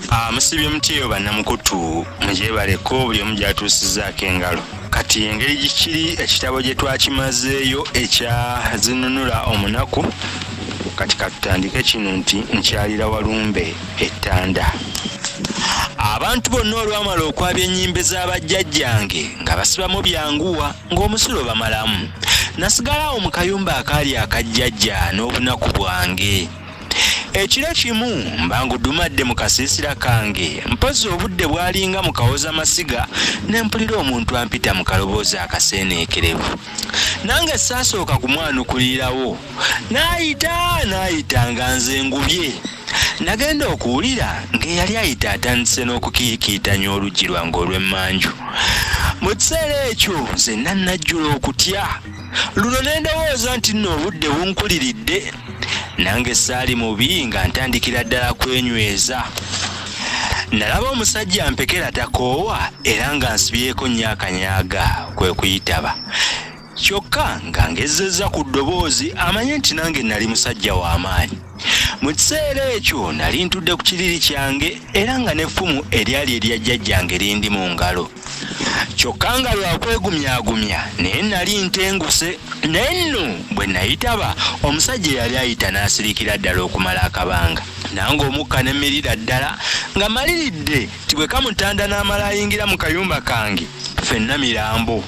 Ah, musibye mutyeyo bannamukutu mugyebaleko buli omu gyatuusizaako engalo kati engeri gikiri ekitabo gye twakimazeeyo ekya zinunula omunaku kati katutandike kino nti nkyalira walumbe ettanda abantu bonna olwamala okwabya ennyimbe z'abajjajjange nga basibamu byanguwa ng'omusulo bamalamu nasigalawo mu kayumba akaali akajjajja n'obunaku bwange ekiro kimu mbangudumadde mu kasiisira kange mpozi obudde bwalinga mu kawoza masiga ne mpulira omuntu ampita mu kaloboozi akaseeneekerevu nange saasooka kumwanukulirawo n'ayita n'ayita nga nze ngubye nagenda okuwulira ng'eyali ayita atandise n'okukiikiitanya oluggi lwange olw'emmanju mu kiseera ekyo nze nannajjula okutya luno ne ndowooza nti nno obudde bunkuliridde nange saali mubi nga ntandikira ddala kwenyweza nalaba omusajja mpekera takoowa era nga nsibyeko nnyo akanyaga kwe kuyitaba kyokka nga ngezezza ku ddoboozi amanye nti nange nali musajja w'amaanyi mu kiseera ekyo nali ntudde ku kiriri kyange era nga n'effumu eryali erya jjajjange lindi mu ngalo kyokka nga lwakwegumyagumya naye nali ntenguse naye nno bwe nayitaba omusajja eyali ayita n'asirikira ddala okumala akabanga nange omukka ne mmirira ddala nga maliridde ti bwe kamutanda n'amala ayingira mu kayumba kange fenna mirambo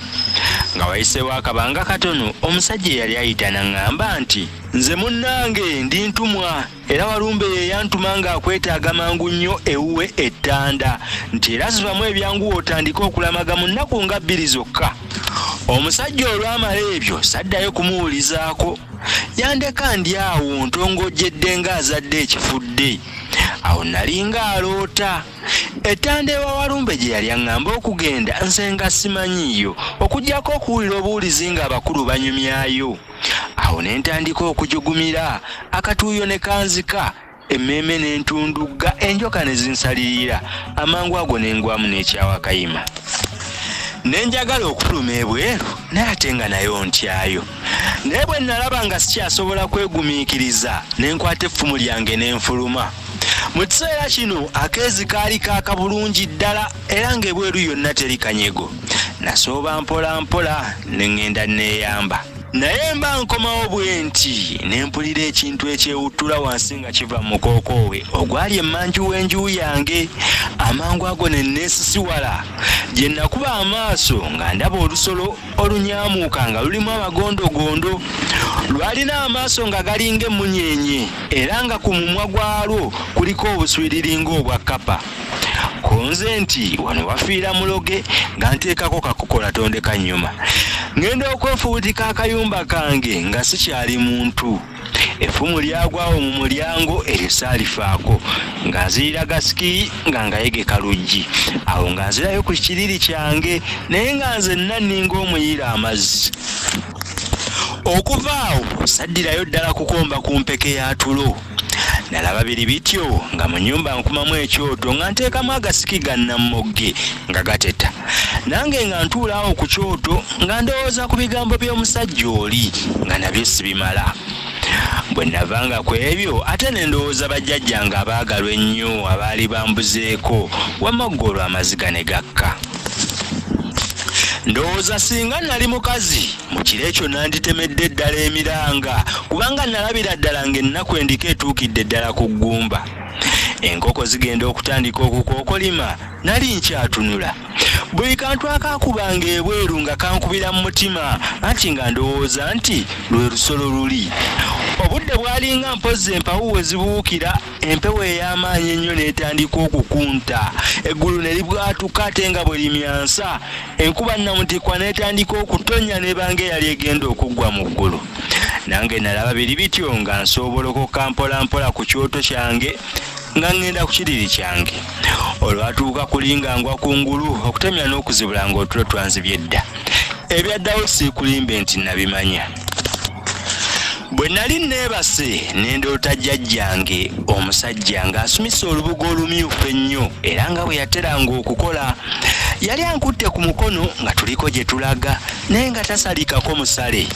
nga wayiseewo akabanga katono omusajja eyali ayita naŋŋamba nti nze munnange ndi ntumwa era walumbe yeyantuma nga akwetaaga mangu nnyo ewuwe ettanda nti era zibamu ebyanguwa otandike okulamaga mu nnaku nga bbiri zokka omusajja olwamala ebyo saddayo kumuwulizaako yandeka ndi awo ntongojjedde ng'azadde ekifudde awo nalinga aloota ettanda ewa walumbe gye yali aŋŋamba okugenda nze nga simanyiiyo okugyako okuwulira obuwulizi ng'abakulu banyumyayo awo ne ntandika okujugumira akatuuyo ne kanzika emmeeme n'entundugga enjoka ne zinsalirira amangu ago ne ngwamu n'ekyawa kayima ne njagala okufuluma ebweru naye ate nga nayo ntyayo naye bwe nnalaba nga sikyasobola kwegumiikiriza ne nkwata effumu lyange ne nfuluma mu kiseera kino akeezi kaali kaaka bulungi ddala era ng'ebweru yonna teri kanyego nasooba mpola mpola ne ŋŋenda nneeyamba naye mba nkomawo bwe nti ne mpulira ekintu ekyewuttula wansi nga kiva mu mukookoowe ogwali emmanju w'enju yange amangu ago ne nneesisiwala gye nakuba amaaso nga ndaba olusolo olunyamuuka nga lulimu amagondogondo lwalina amaaso nga galinga emmunyeenye era nga ku mumwa gwalwo kuliko obuswiriri ng'obwa kkapa kunze nti wano wafiira muloge nga nteekako kakukola tondeka nyuma ngenda okwefubutika akayumba kange nga sikyali muntu effumu lyagwawo mu mulyango eryo saalifaako nga nzirira gasiki nga ngayegeka luggi awo nga nzirayo ku kiriri kyange naye nga nze nnaninga omuyiira amazzi okuva awo saddirayo ddala kukomba ku mpeke ya tulo nalaba biri bityo nga mu nyumba nkumamu ekyoto nga nteekamu agasiki ga nammogge nga gateta nange nga ntuulaawo ku kyoto nga ndowooza ku bigambo by'omusajja oli nga nabyo sibimala bwe navanga ku ebyo ate ne ndowooza bajjajja nga abaagalwa ennyo abaali bambuzeeko wamagga olwo amaziga ne gakka ndowooza singa nali mukazi mu kiro ekyo nanditemedde ddala emiranga kubanga nalabira ddala ng'ennaku endiko etuukidde ddala ku ggumba enkoko zigenda okutandika okukookolima nali nkyatunula buli kantu akakubanga ebweru nga kankubira mu mutima anti nga ndowooza nti lwe lusolo luli obudde bwalinga mpozzi empawu we zibuukira empewo ey'amaanyi ennyo n'etandika okukunta eggulu ne libwatuka ate nga bwe limyansa enkuba nnamutikwa n'etandika okutonnya n'ebanga eyali egenda okuggwa mu ggulu nange nalaba biri bityo nga nsoobolokoka mpolampola ku kyoto kyange nga ŋŋenda ku kiriri kyange olwatuuka kulinga ngwa ku ngulu okutemya n'okuzibula ng'otulo twanzibye dda ebyaddawo siikulimbe nti nabimanya bwe nali nneebase n'endoota jjajjange omusajja ng'asumisa olubugo olumyufu ennyo era nga bwe yateranga okukola yali ankutte ku mukono nga tuliko gye tulaga naye nga tasalikako musale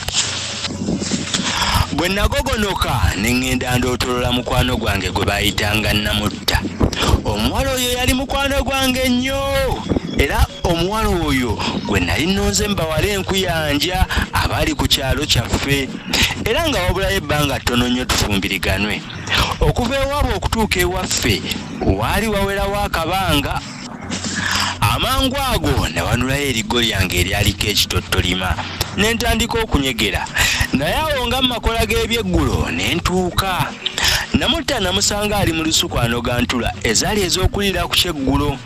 bwe nagogonoka ne ŋŋenda ndootolola mukwano gwange gwe baayitanga namutta omuwala oyo yali mukwano gwange nnyo era omuwala oyo gwe nali nnonze mu bawala nkuyanja abali ku kyalo kyaffe era nga wabulayo ebbanga ttono nnyo tufumbiriganwe okuva ewaabwe okutuuka ewaffe waali wawerawo akabanga amangu ago nawanulayo erigo lyange eryaliko ekitottolima ne ntandika okunyegera naye awo nga mu makola g'ebyeggulo ne ntuuka namutta namusanga ali mu lusuku anogantula ezaali ez'okulira ku kyeggulo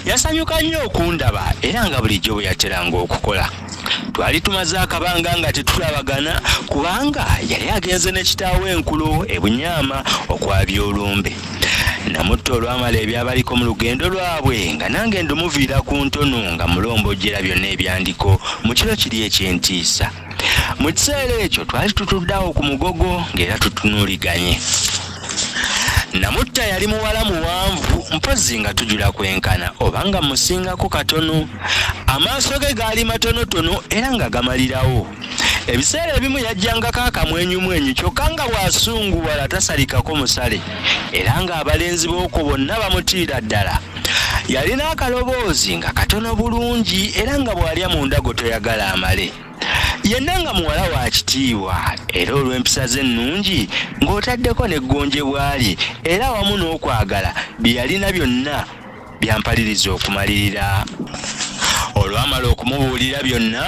Yasanyuka nnyo okundaba era nga bulijjo bwe yateranga okukola. Twali tumaze akabanga nga tetulabagana kubanga yali agenze ne kitaawe enkulo e Bunyama okwabya olumbe. Namutta olwamala ebyabaliko mu lugendo lwabwe nga nange ndumuviira ku ntono nga mulombojjera byonna ebyandiko mu kiro kiri eky'entiisa. mu kiseera ekyo twali tutuddawo ku mugogo ng'era tutunuliganye namutta yali muwala muwanvu mpozzi nga tujula kwenkana oba nga musingako katono amaaso ge gaali matonotono era nga gamalirawo ebiseera ebimu yajjangako akamwenyumwenyu kyokka nga bw'asunguwala tasalikako musale era ng'abalenzi b'okwo bonna bamutiira ddala yalina akaloboozi nga katono bulungi era nga bw'alya mu ndago toyagala amale yenna nga muwala wa kitiibwa era olw'empisa ze ennungi ng'otaddeko n'eggonje bw'ali era wamu n'okwagala bye yalina byonna byampaliriza okumalirira olwamala okumubuulira byonna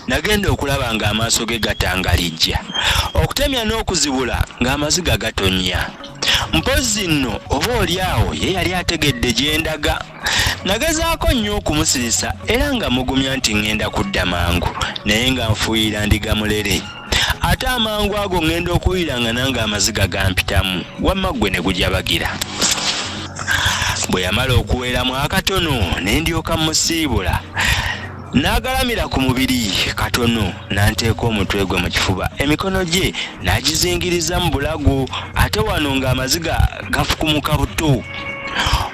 nagenda okulaba ng'amaaso ge gatangalijja okutemya n'okuzibula ng'amaziga gatonnya mpozzi nno oba oli awo ye yali ategedde gye ndaga nagezaako nnyo okumusirisa era nga mugumya nti ŋŋenda kudda mangu naye nga nfuuyira ndiga mulere ate amangu ago ŋŋenda okuwulira nga nange amaziga gampitamu wamma ggwe ne gujabagira bwe yamala okuweeramu akatono ne ndyoka musiibula N'agalamira ku mubiri katono n'anteeka omutwe gwe mu kifuba emikono gye n'agizingiriza mu bulago ate wano ng'amaziga gafukumuka buto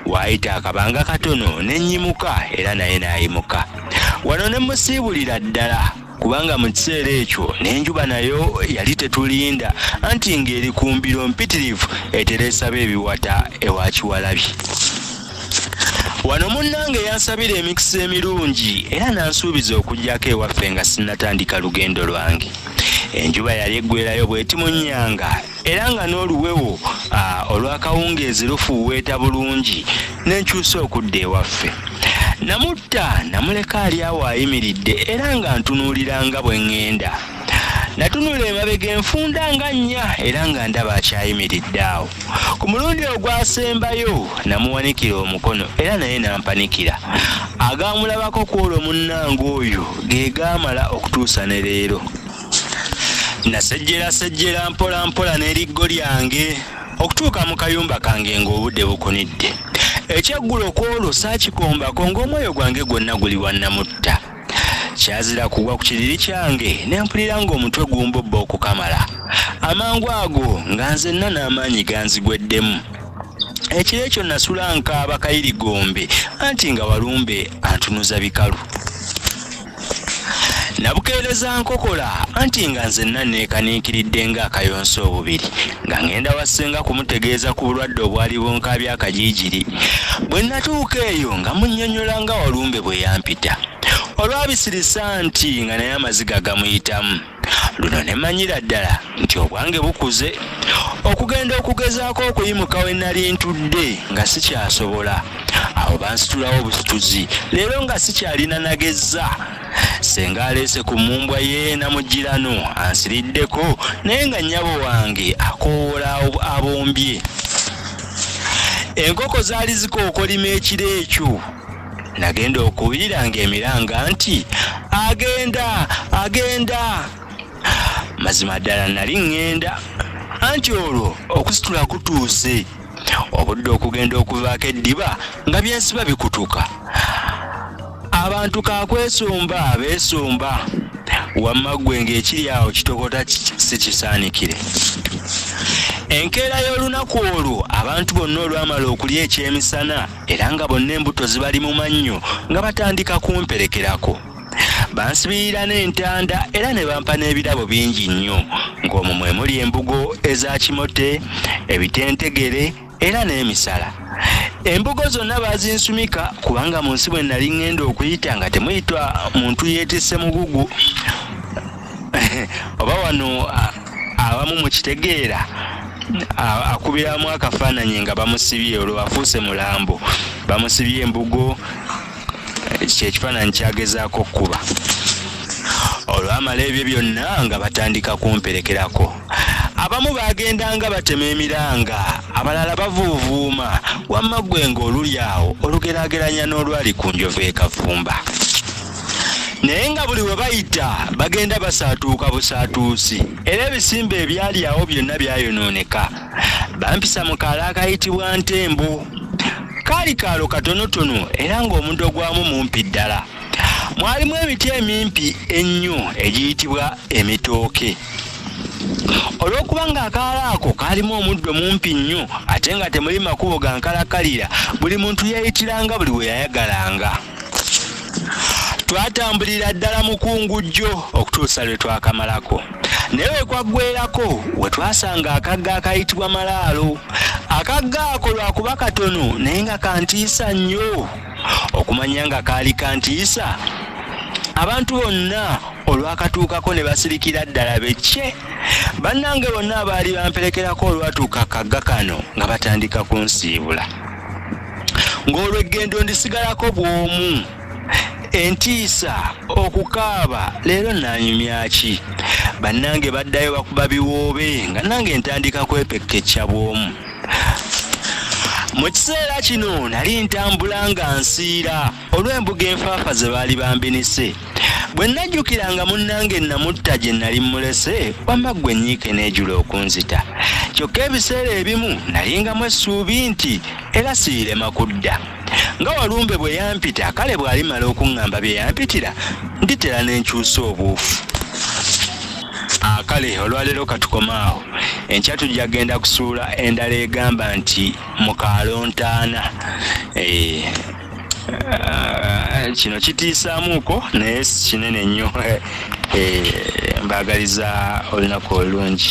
waayita akabanga katono ne nnyimuka era naye n'ayimuka wano ne musiibulira ddala kubanga mu kiseera ekyo n'enjuba nayo yali tetulinda anti ng'eri ku mbiro mpitirivu etereesaba ebiwata ewa kiwalabi wano munnange yansabira emikisa emirungi era nansuubiza okujjako ewaffe nga sinnatandika lugendo lwange enjuba yali eggwerayo bwetimunyanga era nga n'oluwewo olwakawungeezi lufuuweeta bulungi nenkyusa okudda ewaffe namutta namuleka ali awo ayimiridde era nga ntunuulira nga bwe ŋŋenda natunula emabega enfunda nga nnya era nga ndaba akyayimiridde awo ku mulundi ogwasembayo namuwanikira omukono era naye nampanikira agaamulabako ku olwo munnange oyo ge gaamala okutuusa ne leero nasejjerasejjera mpola mpola n'eriggo lyange okutuuka mu kayumba kange ng'obudde bukunidde ekyeggulo ku olwo saakikombako ng'omwoyo gwange gwonna guli wannamutta kyazira kugwa ku kiriri kyange ne mpulira ng'omutwe gumbobba okukamala amangu ago nga nzenna n'amaanyi ganzigweddemu ekiro ekyo nasula nkaaba kayirigombe anti nga walumbe antunuza bikalu nabukeereza nkokola anti nga nzenna neekaniikiridde ng'akayonsa obubiri nga ngenda wa ssenga kumutegeeza ku bulwadde obwali bunkaabya akajiijiri bwe natuuka eyo nga munnyonnyola nga walumbe bwe yampita olwabisirisa nti nga naye amaziga gamuyitamu luno ne manyira ddala nti obwange bukuze okugenda okugezaako okuyimuka we nali ntudde nga sikyasobola awo bansitulawo obusituzi leero nga sikyalina nagezza senga aleese ku mmumbwa ye namugirano ansiriddeko naye nga nnyabo wange akoowoola abombye enkoko zaali zikookolima ekiro ekyo nagenda okubiira ng'emiranga nti agenda agenda mazima ddala nali ŋŋenda anti olwo okusitula kutuuse obudde okugenda okuvaako eddiba nga byensiba bikutuka abantu kakwesumba beesumba wamma ggwe ng'ekiri awo kitokota si kisaanikire enkeera y'olunaku olwo abantu bonna olwamala okulya ekyemisana era nga bonna embuto zibali mu mannyo nga batandika kumperekerako bansibirira n'entanda era ne bampa n'ebirabo bingi nnyo ng'omwo mwe muli embugo eza kimote ebitentegere era n'emisala embugo zonna baazinsumika kubanga mu nsi bwe nali ŋŋenda okuyita nga temuyitwa muntu yeetisse mugugu oba wano abamu mu kitegeera akubiramu akafaananyi nga bamusibye olwo afuuse mulambo bamusibye embugo ekyo ekifaananyi kyagezaako okukuba olwamala ebyo byonna nga batandika kumperekerako abamu baagendanga batema emiranga abalala bavuuvuuma wamma ggwe ng'oluli awo olugeraageranya n'olwali ku njovu ekafumba naye nga buli we bayita bagenda basaatuuka busaatuusi era ebisimba ebyali awo byonna byayonooneka bampisa mu kaalo akayitibwa ntembo kaali kaalo katonotono era ng'omuntu ogwamu mumpi ddala mwalimu emiti emimpi ennyo egiyitibwa emitooke olw'okuba ng'akaalo ako kaalimu omuddo mumpi nnyo ate nga temuli makubo ga nkalakkalira buli muntu yeeyitiranga buli we yayagalanga twatambulira ddala mukungujjo okutuusa lwe twakamalako naye wekwaggwerako we twasanga akagga akayitibwa malaalo akagga ako lwakuba katono naye nga kantiisa nnyo okumanya nga kaali kantiisa abantu bonna olwakatuukako ne basirikira ddala bekke bannange bonna abaali bamperekerako olwatuuka kagga kano nga batandika kunsiibula ng'olweggendo ndisigalako bw'omu entiisa okukaaba leero nanyumyaki bannange baddayo bakuba biwoobe nga nange ntandika kwepekkecca bw'omu mu kiseera kino nali ntambula nga nsiira olw'embuga enfaafa ze baali bambinise bwe nnajjukira nga munnange nnamutta gye nnali mmulese wamma ggwe ennyiike n'ejula okunzita kyokka ebiseera ebimu nalingamu essuubi nti era siirema kudda nga walumbe bwe yampita kale bw'alimala okuŋŋamba bye yampitira nditera n'enkyusa obuufu akale ah, olwaleero katukomaawo enkya tujja genda kusuula endala egamba nti mukalontaana eh, Eh, kino kitiisaamuuko naye kinene nnyo eh, eh, mbaagaliza olunaku olulungi